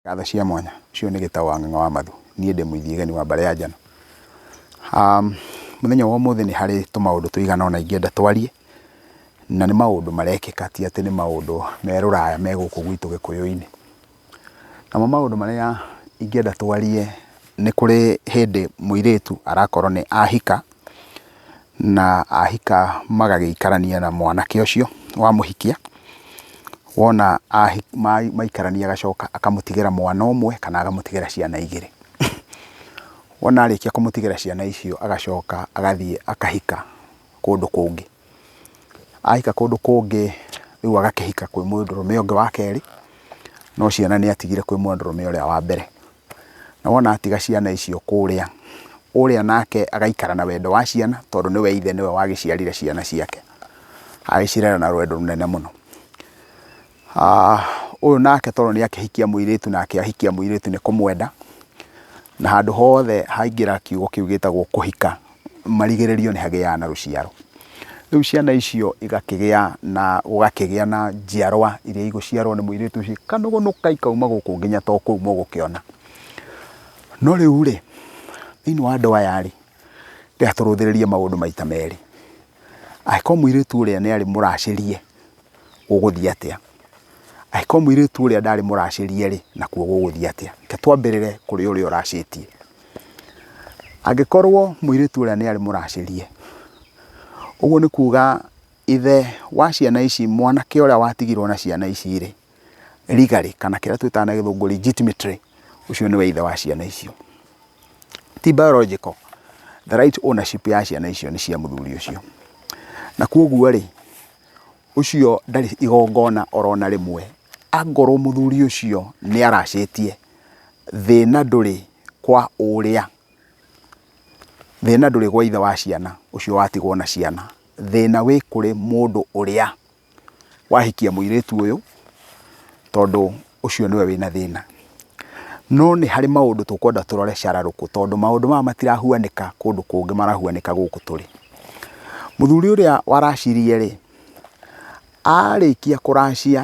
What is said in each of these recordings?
Ngatho cia mwanya. Ũcio nĩ Gĩtaũ wa Ng'ang'a wa Mathu. Niĩ ndĩ mũithi geni wa Mbare ya Njano. Mũthenya wa ũmũthĩ nĩ harĩ tũmaũndũ tũigana ũna ingĩenda twarie, na nĩ maũndũ marekĩka ti atĩ nĩ maũndũ me rũraya me gũkũ gwitũ Gĩkũyũ-inĩ. Namo maũndũ marĩa ingĩenda twarie nĩ kũrĩ hĩndĩ mũirĩtu arakorwo nĩ ahika, Na ahika magagĩikarania na mwanake ũcio wamũhikia, wona maikarania agacoka akamũtigĩra mwana ũmwe kana akamũtigĩra ciana igĩrĩ. Wona arĩkia kũmũtigĩra ciana icio agacoka agathiĩ akahika kũndũ kũngĩ. Ahika kũndũ kũngĩ rĩu agakĩhika kwĩ mũndũrũme ũngĩ wa kerĩ, no ciana nĩatigire kwĩ mũndũrũme ũrĩa wa mbere. na wona atiga ciana icio kũrĩa, ũrĩa nake agaikara na wendo wa ciana tondũ nĩwe ithe nĩwe wagĩciarire ciana ciake, agĩcirera na rwendo rũnene mũno. Ũyũ nake tondũ nĩ akĩhikia mũirĩtu na akĩahikia mũirĩtu nĩ kũmwenda, na handũ hothe haingĩra kiugo kĩu gĩtagwo kũhika, marigĩrĩrio nĩ hagĩaga na rũciaro. Rĩu ciana icio igakĩgĩa na, gũgakĩgĩa na njiarwa iria igũciarwo nĩ mũirĩtu ũcio ikanũgũnũka ikauma gũkũ nginya to kũu mũgũkĩona. No rĩu rĩ, thĩinĩ wa andũ aya rĩ, reka tũrũthĩrĩrie maũndũ maita merĩ. Angĩkorwo mũirĩtu ũrĩa nĩ arĩ mũracĩrie gũgũthiĩ atĩa? Angĩkorwo mũirĩtu ũrĩa ndarĩ mũracĩrie rĩ, nakuo gũgũthiĩ atĩa? Reke twambĩrĩre kũrĩ ũrĩa ũracĩtie. Angĩkorwo mũirĩtu ũrĩa nĩ arĩ mũracĩrie, ũguo nĩ kuga ithe wa ciana ici, mwanake ũrĩa watigirwo na ciana ici rĩ, legally kana kĩrĩa twĩtaga na gĩthũngũ legitimately ũcio nĩwe ithe wa ciana icio. Ti biological, the right ownership ya ciana icio nĩ cia mũthuri ũcio. Na kwoguo rĩ, ũcio ndarĩ igongona ona rĩmwe, angorwo mũthuri ũcio nĩ aracĩtie. Thĩna ndũrĩ kwa ũrĩa. Thĩna ndũrĩ gwa ithe wa ciana ũcio watigwo na ciana. Thĩna wĩ kũrĩ mũndũ ũrĩa wahikia mũirĩtu ũyũ tondũ ũcio nĩwe wĩna thĩna. No nĩ harĩ maũndũ tũkwenda tũrore cararũkũ tondũ maũndũ maya matirahuanĩka kũndũ kũngĩ marahuanĩka gũkũ tũrĩ. Mũthuri ũrĩa waracirie rĩ, arĩkia kũracia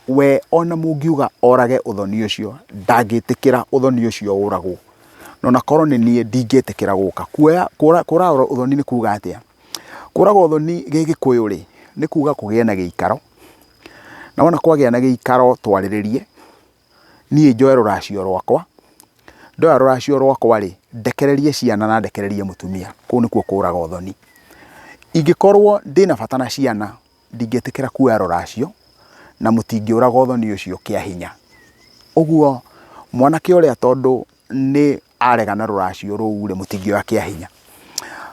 We o na mũngiuga orage ũthoni ũcio, ndangĩtĩkĩra ũthoni ũcio ũragwo. Na o na korwo nĩ niĩ, ndingĩtĩkĩra gũka. Kuoya, kũra, kũraga ũthoni nĩ kuuga atĩa? Kũraga ũthoni Gĩgĩkũyũ-rĩ, nĩ kuuga kũgĩe na gĩikaro, na wona kwagĩa na gĩikaro twarĩrĩrie, niĩ njoe rũracio rwakwa, ndoya rũracio rwakwa-rĩ, ndekererie ciana na ndekererie mũtumia. Kũu nĩkuo kũraga ũthoni. Ingĩkorwo ndĩna bata na ciana, ndingĩtĩkĩra kuoya rũracio, na mũtingĩũraga ũthoni ũcio kĩa hinya. Ũguo mwanake ũrĩa tondũ nĩ arega na rũracio rũu rĩ, mũtingĩoya kĩa hinya.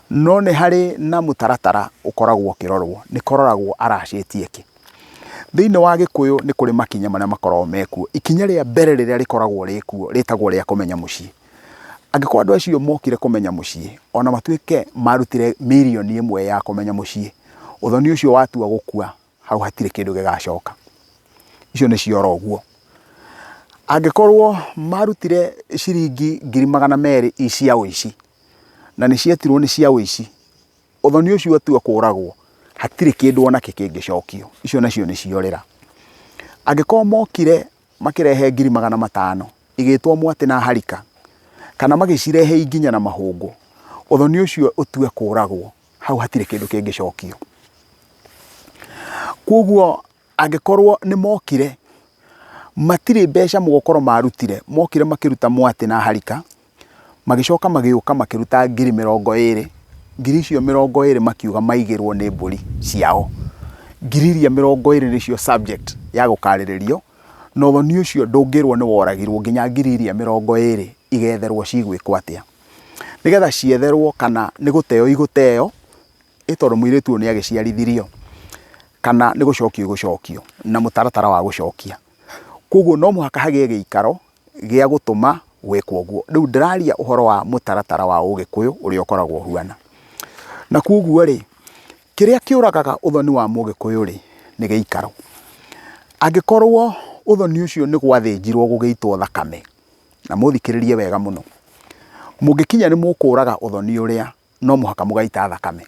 No nĩ harĩ na mũtaratara ũkoragwo ũkĩrorwo, nĩ kũroragwo aracĩtie kĩ. Thĩinĩ wa Gĩkũyũ nĩ kũrĩ makinya marĩa makoragwo me kuo. Ikinya rĩa mbere rĩrĩa rĩkoragwo rĩ kuo rĩtagwo rĩa kũmenya mũciĩ. Angĩkorwo andũ acio mokire kũmenya mũciĩ, ona matuĩke marutire mirioni ĩmwe ya kũmenya mũciĩ, ũthoni ũcio watua gũkua, hau hatirĩ kĩndũ gĩgacoka. Icio nĩ ciora ũguo. Angĩkorwo marutire ciringi ngiri magana merĩ i cia ũici, na nĩ cietirwo nĩ cia ũici, ũthoni ũcio watua kũragwo, hatirĩ kĩndũ ona kĩ kĩngĩcokio. Icio nacio nĩ ciorĩra. Angĩkorwo mokire makĩrehe ngiri magana matano, igĩĩtwo mwatĩ na harika, kana magĩcirehe inginya na mahũngũ, ũthoni ũcio ũtue kũũragwo, hau hatirĩ kĩndũ kĩngĩcokio. Kwoguo angĩkorwo nĩ mokire, matirĩ mbeca mũgokorwo marutire, mokire makĩruta mwatĩ na harika. Magĩcoka magĩũka makĩruta ngiri mĩrongo ĩĩrĩ, ngiri icio mĩrongo ĩĩrĩ makiuga maigĩrwo nĩ mbũri ciao. Ngiri iria mĩrongo ĩĩrĩ nĩcio subject ya gũkaarĩrĩrio, na ũthoni ũcio ndũngĩrwo nĩ woragirwo nginya ngiri iria mĩrongo ĩĩrĩ igetherwo cigwĩkwo atĩa. Nĩgetha cietherwo kana nĩ gũteo igũteo, ĩ tondũ mũirĩtu ũyũ nĩ agĩciarithirio, kana nĩ gũcokio igũcokio na mũtaratara wa gũcokia. Kwoguo no mũhaka hagĩe gĩikaro gĩa gũtũma gwĩkwo ũguo. Rĩu ndĩraria ũhoro wa mũtaratara wa Ũgĩkũyũ ũrĩa ũkoragwo ũhuana. Na kwoguo rĩ, kĩrĩa kĩũragaga ũthoni wa Mũgĩkũyũ rĩ, nĩ gĩikaro. Angĩkorwo ũthoni ũcio nĩ gwathĩnjirwo gũgĩitwo thakame, na mũthikĩrĩrie wega mũno, mũngĩkinya nĩ mũkũraga ũthoni ũrĩa, no mũhaka mũgaita thakame.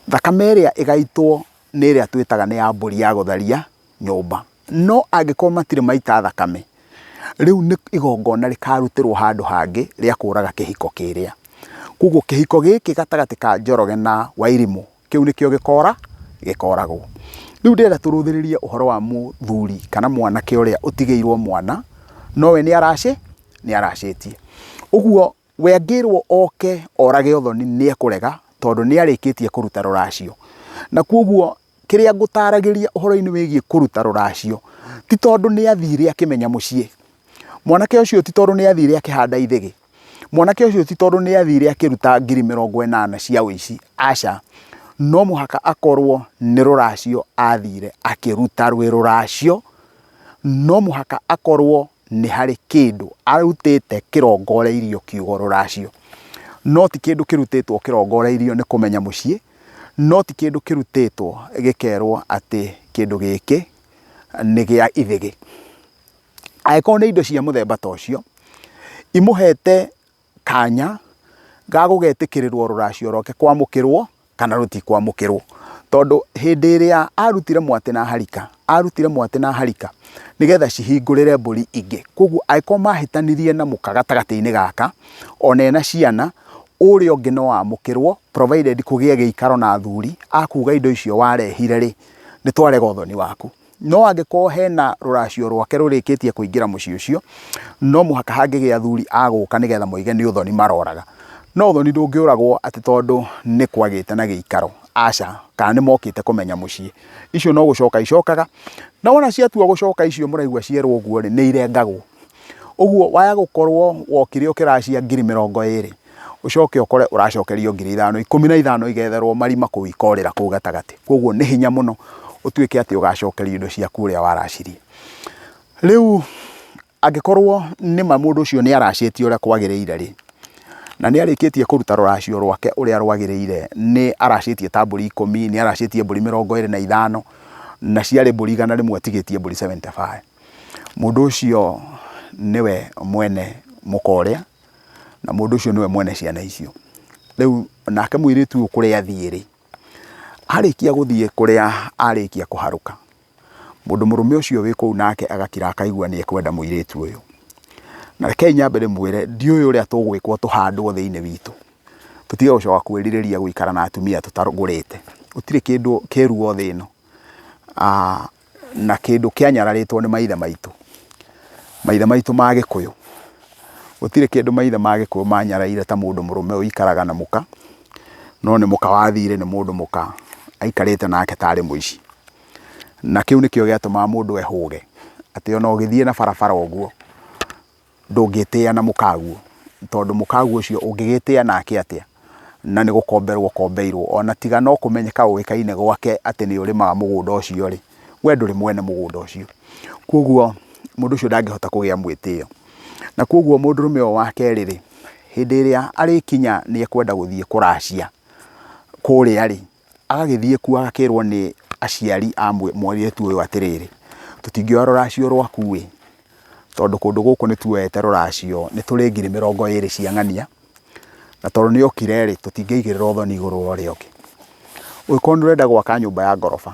Thakame ĩrĩa ĩgaitwo nĩ ĩrĩa twĩtaga nĩ ya mbũri ya gũtharia nyũmba. No angĩkorwo matirĩ maita thakame, rĩu nĩ igongona rĩkarutĩrwo handũ hangĩ rĩa kũraga kĩhiko kĩrĩa. Koguo kĩhiko gĩkĩ gatagatĩ ka Njoroge na Wairimũ, kĩu nĩkĩo gĩkora gĩkoragwo. Rĩu ndĩrenda tũrũthĩrĩrie ũhoro wa mũthuri kana mwanake ũrĩa ũtigĩirwo mwana, no we nĩ aracĩ, nĩ aracĩtie. Ũguo... We angĩrwo oke orage Othoni nĩ ekũrega tondũ nĩ arĩkĩtie kũruta rũracio. Na kwoguo kĩrĩa ngũtaragĩria ũhoro-inĩ wĩgiĩ kũruta rũracio, ti tondũ nĩ athire akĩmenya mũciĩ. Mwanake ũcio ti tondũ nĩ athire akĩhanda ithĩgĩ. Mwanake ũcio ti tondũ nĩ athire akĩruta ngiri mĩrongo ĩnana cia ũici. Aca, no mũhaka akorwo nĩ rũracio athire akĩruta rwĩ rũracio. no mũhaka akorwo nĩ harĩ kĩndũ arutĩte kĩrongoreirio kiugo rũracio. No ti kĩndũ kĩrutĩtwo kĩrongoreirio nĩ kũmenya mũciĩ, no ti kĩndũ kĩrutĩtwo gĩkerwo atĩ kĩndũ gĩkĩ nĩ gĩa ithĩgĩ. Angĩkorwo nĩ indo cia mũthemba ta ũcio, imũhete kanya ga gũgetĩkĩrĩrwo rũracio rwake kwamũkĩrwo kana rũtikwamũkĩrwo. Tondũ hĩndĩ ĩrĩa arutire mwatĩ na harika, arutire mwatĩ na harika nĩgetha cihingũrĩre mbũri ingĩ. Kwoguo angĩkorwo mahĩtanirie na mũka gatagatĩ-inĩ gaka, ona ena ciana, ũrĩa ũngĩ no amũkĩrwo provided kũgĩe gĩikaro na athuri a kuga indo icio warehire-rĩ, nĩ twarega ũthoni waku. No angĩkorwo hena rũracio rwake rũrĩkĩtie kũingĩra mũciĩ ũcio, no mũhaka hangĩgĩa athuri a gũka nĩgetha moige nĩ ũthoni maroraga. No ũthoni ndũngĩũragwo atĩ tondũ nĩ kwagĩte na gĩikaro, aca, kana nĩ mokĩte kũmenya mũciĩ. Icio no gũcoka icokaga, na wona ciatua gũcoka icio mũraigua cierwo ũguo-rĩ, nĩ irengagwo. Ũguo waya gũkorwo wokire ũkĩracia ngiri mĩrongo ĩrĩ, ũcoke ũkore ũracokerio ngiri ithano, ikũmi na ithano igetherwo marima kũu ikorĩra kũu gatagatĩ. Kwoguo nĩ hinya mũno ũtuĩke atĩ ũgacokerio indo ciaku ũrĩa waracirie. Rĩu angĩkorwo nĩ ma mũndũ ũcio nĩ aracĩtie ũrĩa kwagĩrĩire rĩ, na nĩ arĩkĩtie kũruta rũracio rwake ũrĩa rwagĩrĩire, nĩ aracĩtie ta mbũri ikũmi, nĩ aracĩtie mbũri mĩrongo ĩrĩ na ithano, na ciarĩ mbũri igana rĩmwe atigĩtie mbũri seventy five. Mũndũ ũcio nĩwe mwene mũka ũrĩa, na mũndũ ũcio nĩwe mwene ciana icio. Rĩu nake mũirĩtu ũyũ kũrĩa athiĩ rĩ, arĩkia gũthiĩ kũrĩa arĩkia kũharũka, mũndũ mũrũme ũcio wĩ kũu nake agakira akaigua nĩ ekwenda mũirĩtu ũyũ. Na rekei nyambe ndĩmwĩre ndiũĩ ũrĩa tũgwĩkwo tũhandwo thĩinĩ witũ, tũtige gũcoka kwĩrirĩria gũikara na atumia tũtagũrĩte. Gũtirĩ kĩndũ kĩrũ o thĩ ĩno. na kĩndũ kĩanyararĩtwo nĩ maithe maitũ, maithe maitũ ma gĩkũyũ, gũtirĩ kĩndũ maithe ma gĩkũyũ manyaraire ta mũndũ mũrũme ũikaraga na mũka, no nĩ mũka wathire nĩ mũndũ mũka aikarĩte nake tarĩ mũici. Na kĩu nĩkĩo gĩatũmaga mũndũ ehũge atĩ ona ũgĩthiĩ na barabara ũguo. Ndũngĩtĩa na mũkaguo, tondũ mũkaguo ũcio ũngĩgĩtĩa nake atĩa? Na nĩ gũkomberwo ũkombeirwo. O na tiga no kũmenyeka ũĩkaine gwake atĩ nĩ ũrĩmaga mũgũnda ũcio rĩ, we ndũrĩ mwene mũgũnda ũcio. Kwoguo mũndũ ũcio ndangĩhota kũgĩa mwĩtĩo. Na kwoguo mũndũrũme ũyũ wa kerĩ rĩ, hĩndĩ ĩrĩa arĩkinya nĩ ekwenda gũthiĩ kũracia kũrĩa rĩ, Agagĩthiĩ kuo agakĩrwo nĩ aciari a mũirĩtu ũyũ atĩrĩrĩ, tũtingĩoya rũracio rwaku ĩ, tondũ kũndũ gũkũ nĩ tuoete rũracio nĩ tũrĩ ngiri mĩrongo ĩrĩ cia ng'ania, na tondũ nĩ okire rĩ, tũtingĩigĩrĩra ũthoni igũrũ wa ũrĩa ũngĩ. Ũngĩkorwo nĩ ũrenda gwaka nyũmba ya ngoroba,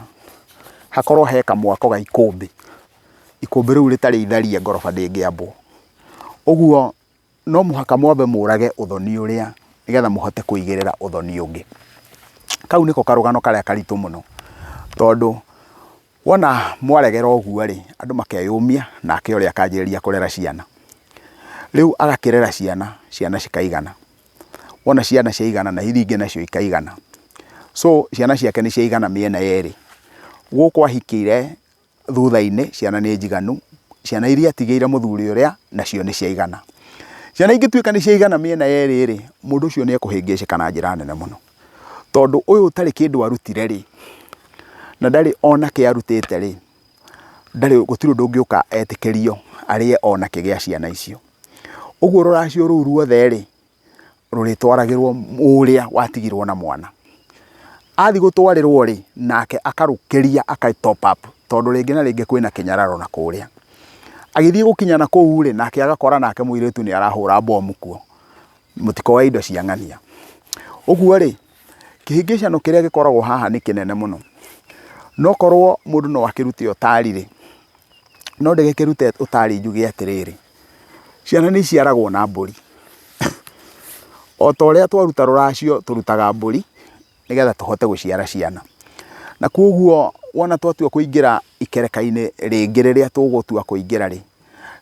hakorwo he kamwako ga ikũmbĩ, ikũmbĩ rĩu rĩtarĩ itharia ngoroba ndĩngĩambwo. Ũguo no mũhaka mwambe mũrage ũthoni ũrĩa nĩgetha mũhote kũigĩrĩra ũthoni ũngĩ. Kau nĩko karũgano karĩa karitũ mũno, tondũ wona mwaregera ũguo rĩ, andũ makeyũmia nake ũrĩa akanjĩrĩria kũrera ciana. Rĩu agakĩrera ciana, ciana cikaigana, wona ciana ciaigana na iria ingĩ nacio ikaigana, so ciana ciake nĩ ciaigana mĩena yerĩ, gũkũ ahikĩire... thutha-inĩ, ciana nĩ njiganu, ciana iria atigĩire mũthuri ũrĩa, nacio nĩ ciaigana. Ciana ingĩtuĩka nĩ ciaigana mĩena yerĩ-rĩ, mũndũ ũcio nĩ ekũhĩngĩcĩka na njĩra nene mũno. Tondũ ũyũ ũtarĩ kĩndũ arutire-rĩ, na ndarĩ ona kĩ arutĩte-rĩ, ndarĩ, gũtirĩ ũndũ ũngĩũka etĩkĩrio arĩe ona kĩ gĩa ciana icio. Ũguo rũracio rũu ruothe-rĩ. rũrĩtwaragĩrwo ũrĩa watigirwo na mwana. Athiĩ gũtwarĩrwo rĩ, nake akarũkĩria aka top up tondũ rĩngĩ na rĩngĩ kwĩna kĩnyararo na kũrĩa. Agĩthiĩ gũkinya na kũu rĩ, nake agakora nake mũirĩtu nĩ arahũra mbomu kuo, mũtikoe indo cia ng'ania. Ũguo rĩ, kĩhĩngĩcano kĩrĩa gĩkoragwo haha nĩ kĩnene mũno. No korwo mũndũ no akĩrute ũtari rĩ, no ndagĩkĩrute ũtari njuge atĩrĩrĩ, Ciana nĩ iciaragwo na mbũri. O ta ũrĩa twaruta rũracio tũrutaga mbũri nĩgetha tũhote gũciara ciana. Na kwoguo wona twatua kũingĩra ikereka-inĩ rĩngĩ rĩrĩa tũgũtua kũingĩra rĩ,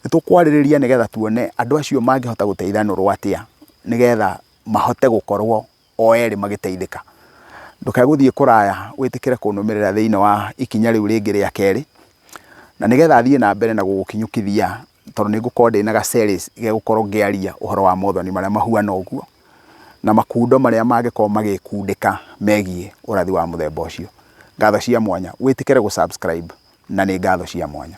nĩ tũkwarĩrĩria nĩgetha tuone andũ acio mangĩhota gũteithanĩrwo atĩa nĩgetha mahote gũkorwo o erĩ magĩteithĩka. Ndũkae gũthiĩ kũraya wĩtĩkĩre kũnũmĩrĩra thĩinĩ wa ikinya rĩu rĩngĩ rĩa kerĩ, na nĩgetha thiĩ na mbere na gũgũkinyũkithia tondũ nĩ ngũkorwo ndĩna ga series gegũkorwo ngĩaria ũhoro wa mothoni marĩa mahuana ũguo, na makundo marĩa mangĩkorwo magĩkundĩka megiĩ ũrathi wa mũthemba ũcio. Ngatho cia mwanya. Wĩtĩkĩre gũ subscribe na nĩ ngatho cia mwanya.